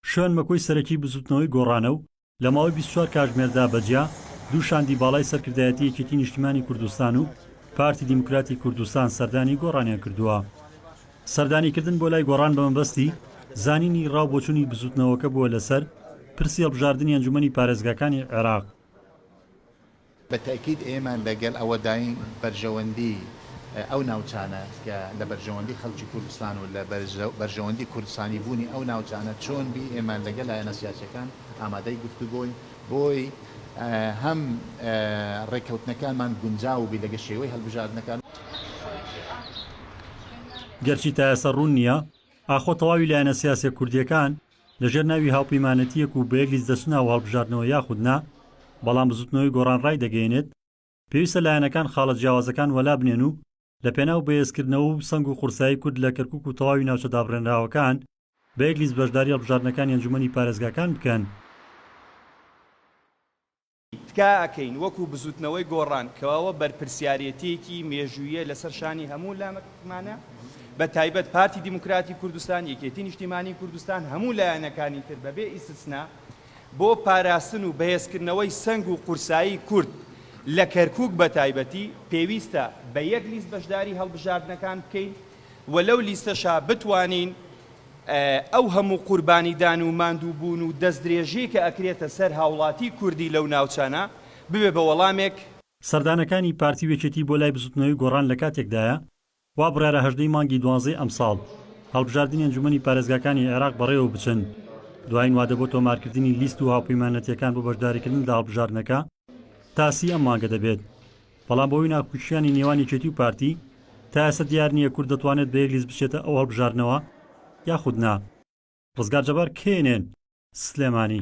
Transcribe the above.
شوێن مەکۆی سەرەکی بزوتنەوەی گۆڕانە و لە ماوەی بیست و چوار کاژمێردا بە جیا دوو شاندی باڵای سەرکردایەتی یەکێتی نیشتیمانی کوردستان و پارتی دیموکراتی کوردستان سەردانی گۆڕانیان کردووە. سەردانی کردن بۆ لای گۆڕان بە مەبەستی زانینی ڕاو بۆچوونی بزوتنەوەکە بووە لەسەر پرسی هەڵبژاردنی ئەنجومەنی پارێزگاکانی عێراق. بە تەئکید ئێمە لە گەل ئەوە داین بەرژەوەندی ئەو ناوچانە کە لە بەرژەوەندی خەلکی کوردستان و لە بەرژەوەندی کوردستانی بوونی ئەو ناوچانە چۆن بی ئێمە لە گەل لایەنە سیاسیەکان ئامادەی گفتوگۆین بۆی هەم رێککەوتنەکانمان گونجاو بی لەگە شێوەی هەلبژاردنەکان. گەرچی تائێسە روون نیە ئاخۆ تەواوی لایەنە سیاسیە کوردیەکان لەژێر ناوی هاوپەیمانێتییەک و بە یەک لیست دەچنە ئەو هەڵبژاردنەوە یاخود نا، بەڵام بزوتنەوەی گۆڕان ڕایدەگەیەنێت، پێویستە لایەنەکان خاڵە جیاوازەکان وەلا بنێن و لە پێناو بەهێزکردنەوە و سەنگ و قورسایی کورد لە کەرکوک و تەواوی ناوچە دابڕێنراوەکان بە یەک لیست بەشداری هەڵبژاردنەکانی ئەنجومەنی پارێزگاکان بکەن. تکایە ئەکەین وەکو بزوتنەوەی گۆڕان کەوە بەرپرسیارێتیەکی مێژوویە لەسەر شانی هەموو لامەکمانە بە تایبەت پارتی دیموکراتی کوردستان یەکێتی نیشتیمانی کوردستان هەموو لایەنەکانی تر بەبێ ئیسسنا بۆ پاراستن و بەهێزکردنەوەی سەنگ و قورسایی کورد لە کەرکوک بە تایبەتی پێویستە بە یەک لیست بەشداری هەڵبژاردنەکان بکەین و لەو لیستەشا بتوانین ئەو هەموو قوربانیدان و ماندووبوون و دەستدرێژیی کە ئەکرێتە سەر هاوڵاتیی کوردی لەو ناوچانە، ببێ بە وەڵامێک. سەردانەکانی پارتی و یەکێتی بۆ لای بزوتنەوەی گۆڕان لە کاتێکدایە، وا بڕیارە هەژدەی مانگی دوانزەی ئەمساڵ، هەڵبژاردنی ئەنجومەنی پارێزگاکانی عێراق بەڕێوە بچن، دوایین وادە بۆ تۆمارکردنی لیست و هاوپەیمانەتییەکان بۆ بەشداریکردن لە هەڵبژاردنەکە، تا سی ئەم مانگە دەبێت. بەڵام بەهۆی ناکوکییانی نێوان یەکێتی و پارتی تا ئێستا دیار نییە کورد دەتوانێت بە یەک لیست بچێتە ئەو هەڵبژاردنەوە یاخود نا. ڕزگار جەبار، کەینێن، سلێمانی.